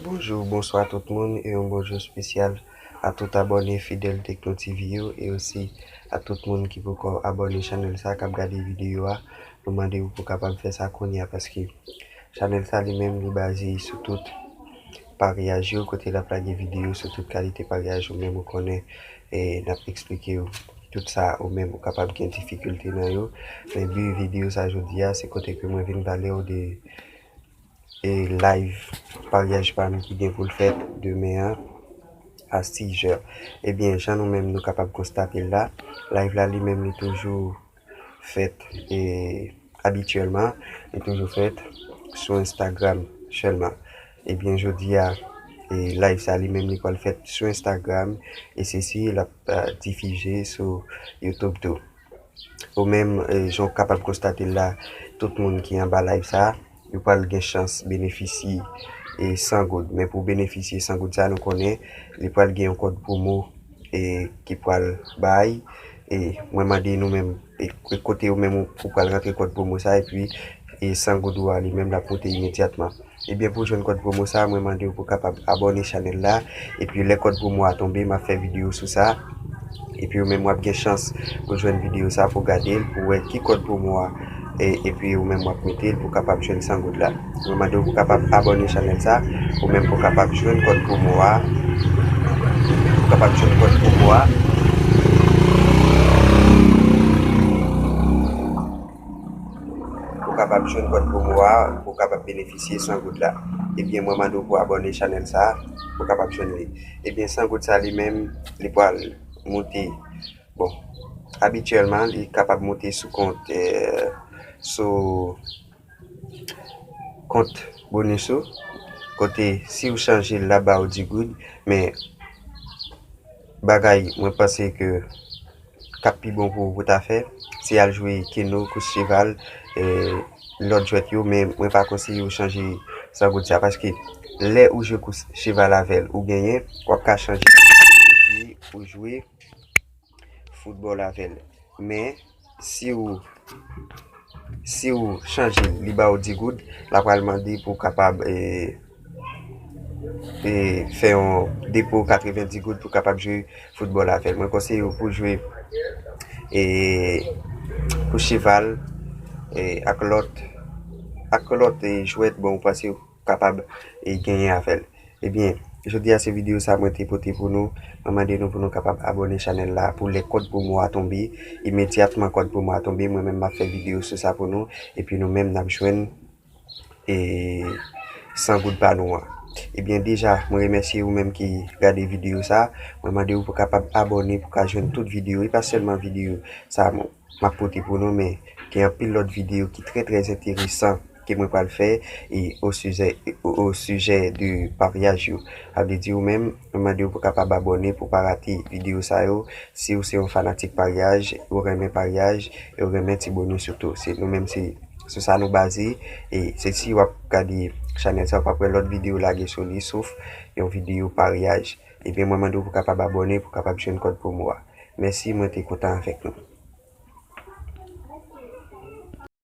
Bonjou, bonswa tout moun e yon bonjou spesyal a tout abòne fidèl Tekno TV yo e osi a tout moun ki poko abòne chanèl sa kap gade videyo a nou mande ou pou kapab fè sa kounya paske chanèl sa li menm li baze sou tout Paryaj yo kote lap lage video sou tout kalite paryaj ou menm ou konnen e nap eksplikew tout sa ou menm ou kapab gen difikilte nan yo men bi video sa jodi a se kote ke mwen vin palew de e live paryaj pam ki gen poul fèt demen an a 6 jè ebyen jan nou menm nou kapab konstatel la live la li menm li toujou fèt e abityèlman li toujou fèt sou Instagram sèlman ebyen jodi a e live sa li menm li pral fèt sou Instagram e se si lap difize sou YouTube tou ou menm jan ou kapab konstate la tout moun ki anba live sa. yo pral gen chans benefisye 100 goud men pou benefisye 100 goud sa nou konnen li pral gen yon kòd pwomo ki pral bay e mwen mande nou menm kote ou menm ou pral rantre kòd pwomo sa epi 100 goud ou a li menm lap moute imedyatman ebyen pou jwenn kòd pwomo sa mwen mande ou pou kapab abòne chanèl la. Epi lè kòd promo a tonbe map fè video sou sa epi ou menm wap gen chans pou jwenn video sa pou gadel pou wè ki kòd promo a epi ou menm wap metel pou kapab jwenn 100 goud la mwen mandew pou kapab abòne chanèl sa ou menm pou kapab jwenn kòd promo a pou kapab jwenn kòd promo a. Ou kapab jwenn kòd promo a pou w kapab benefisye 100 goud la ebyen mwen mande w pou abòne chanèl sa pou w kapab jwenn li ebyen 100 goud sa li menm li pral moute bon abityèlman li kapab moute sou kont sou kont bonus ou kote si w chanje l la ba w 10 goud men Bagay mwen panse ke kap pi bon pou ou pou ta fè, se al jwe keno, kous cheval, lòt jwèt yo, men mwen pa konseye ou chanje sangoud sa, paske lè ou jwe kous cheval avèl ou genyen, wap ka chanje epi ou jwe foutbòl avèl. Men. Siw Siw chanje l li baw 10 goud la pral mande pou kapab fè yon depo 90 goud pou kapab jwe football avèl mwen konseyew pou jwe pou cheval ak lòt ak lòt jwèt bon ou panse kapab genyen avè l ebyen jodi a se video sa mwen te pote pou nou mwen mande nou pou nou kapab abòne chanèl la pou lè kòd promo a tonbe imedyatman kòd promo a tonbe mwen menm map fè video sou sa pou nou epi nou menm nap jwenn e 100 goud pa nou an ebyen deja mwen remèsye ou menm ki gade video sa mwen mande ou pou kapab abòne pou ka jwenn tout video e pa sèlman video sa moun. Map pote pou nou men gen anpil lòt video ki trè trè enteresan ke mwen pral fè e o sizè o sijè de paryaj yo. A vle di ou menm mwen mande ou pou kapab abòne pou pa rate video sa yo si ou se yon fanatik paryaj ou renmen paryaj e ou renmen ti bonus yo tou se nou menm se sou sa nou baze e se si wap gade chanèl sa ou pap wè lòt video lage sou li sof yon video paryaj. Ebyen mwen mande w pou kapab abòne pou kapab jwenn kòd promo a. Mèsi mwen te kontan avèk nou.